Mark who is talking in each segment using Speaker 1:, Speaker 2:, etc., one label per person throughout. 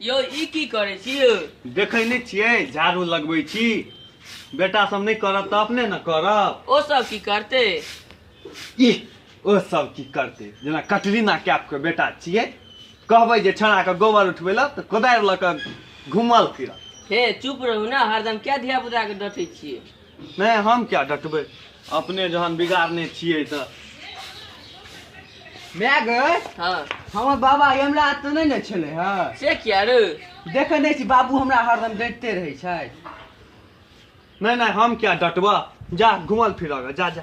Speaker 1: यौ ई की करै छी यौ देखै नहि छियै
Speaker 2: झाड़ू लगबै छी बेटा सब नहि करत तऽ अपने ने करब ओ सब की करते
Speaker 1: ई
Speaker 2: ओ सब की करते जेना कटरीना कैफ के बेटा छियै कहबै जे छाना के गोबर उठबै लए तऽ कोदारि लऽ कऽ घुमल फिरत हे चुप रहू
Speaker 1: ने हरदम क्या धिया पुता के डटे छियै नहि हम
Speaker 2: क्या डटबै अपने जहन बिगाड़ने छियै तऽ
Speaker 3: माय गए हँ हमर
Speaker 1: बाबा
Speaker 3: यमराज तऽ नहि ने छलै हँ से किया रे
Speaker 1: देखै नहि छी
Speaker 3: बाबू हमरा हरदम डटिते रहै छै
Speaker 2: नहि नहि हम क्या डटबऽ जा घुमल फिरऽ गे, जा जा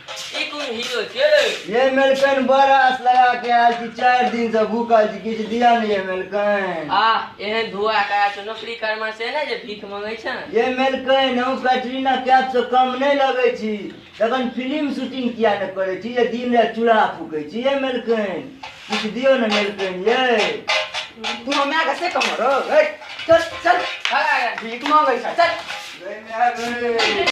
Speaker 3: ई कोन
Speaker 1: हीरो छै ये मेलकन
Speaker 4: बड़ा आस लगा के आयल छी चारि दिन से भूखल छी किछु दिया ने ये मेलकन आ एहन धुआ करा छै
Speaker 1: नौकरी करमा से ने जे भीख मंगै छै ये मेलकन
Speaker 4: हम कैटरीना कैफ से कम नहीं लगे छी तखन फिल्म शूटिंग किया ने करे छी ये दिन रात चूल्हा फूके छी ये मेलकन किछु दियो ने मेलकन ये तू
Speaker 3: हमरा के से कम रो चल चल भीख मांगै छै चल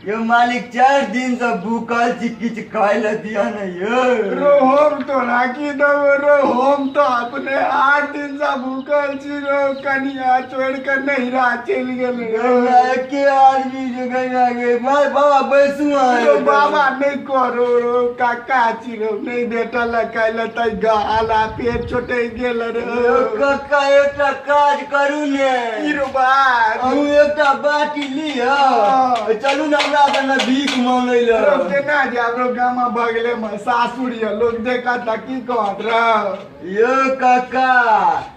Speaker 4: यो मालिक चार दिन से भूखल छी किछु खाय ले दिया ने यो रो हम तो
Speaker 5: राखी देबो रो हम तो अपने आठ दिन से भूखल छी रो कनिया छोड़ के नैहरा चलि गेल रो ना एके आदमी
Speaker 4: जो गया गे माय बाबा बैसू आए रो बाबा नहीं
Speaker 5: करो रो काका छी नहि बेटा लग काल्हि लए तै गाल आ पेट छोटे गेल रे यौ कक्का एकटा
Speaker 4: काज करू ने की रो बात
Speaker 5: अहूँ एकटा
Speaker 4: बाटी लिअ हँ। चलू ने हमरा संगे भीख मांगै रो लए केना जाब रो
Speaker 5: गामा बगले में सासुर ये लोग देखत त की कहत रे यौ कक्का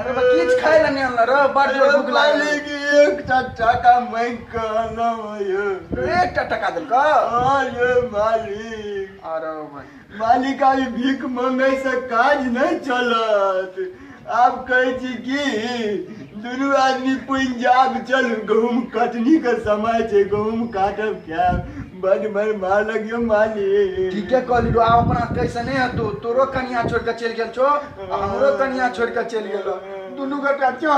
Speaker 4: अरे बा किछ
Speaker 5: खाय ला नहीं आनला रे बड़ जोर भूख लागल है। की एक
Speaker 4: टट्टा का मांग के आना ये एक टा टका देल
Speaker 5: का हाँ ये
Speaker 4: मालिक अरे भाई
Speaker 5: मालिक अभी
Speaker 4: भीख मांगे से काज नहीं चलत आप कहे छी कि दुनू आदमी पंजाब चल गहूम कटनी के समय छै गहूम काटब खायब बड मार मार लगियो माली ठीके कहली लो आब
Speaker 5: अपना कैसने हतो तोरो कनिया छोड़ के चल गेल छो आ हमरो कनिया छोड़ के चल गेल दुनू गोटा चल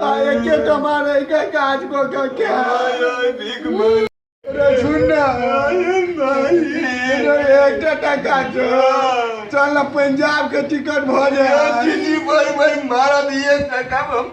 Speaker 5: आ एके कमार एके काज को के के ओए भीख मार
Speaker 4: रे सुन
Speaker 5: ना ओए माली रे एकटा टका छो चल ना पंजाब के टिकट भऽ जाए दिल्ली भाई भाई
Speaker 4: मारा दिए टका हम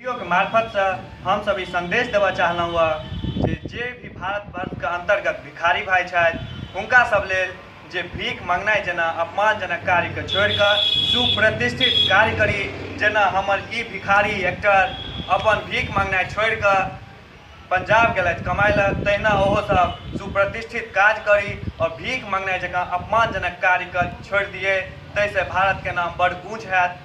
Speaker 2: वीडियोके मार्फतसँ हमसभ ई सन्देश देबऽ चाहलहुँ हँ जे जे भी भारतवर्षके अन्तर्गत भिखारी भाइ छथि हुनका सब लेल जे भीख मङ्गनाइ जेना अपमानजनक कार्यके छोड़िकऽ सुप्रतिष्ठित कार्य करी जेना हमर ई भिखारी एक्टर अपन भीख मङ्गनाइ छोड़िकऽ पंजाब गेलथि कमाइ लए तहिना ओहो सब सुप्रतिष्ठित काज करी आओर भीख मङ्गनाइ जकाँ अपमानजनक कार्यके छोड़ि दियै ताहिसँ भारतके नाम बड़ ऊँच हैत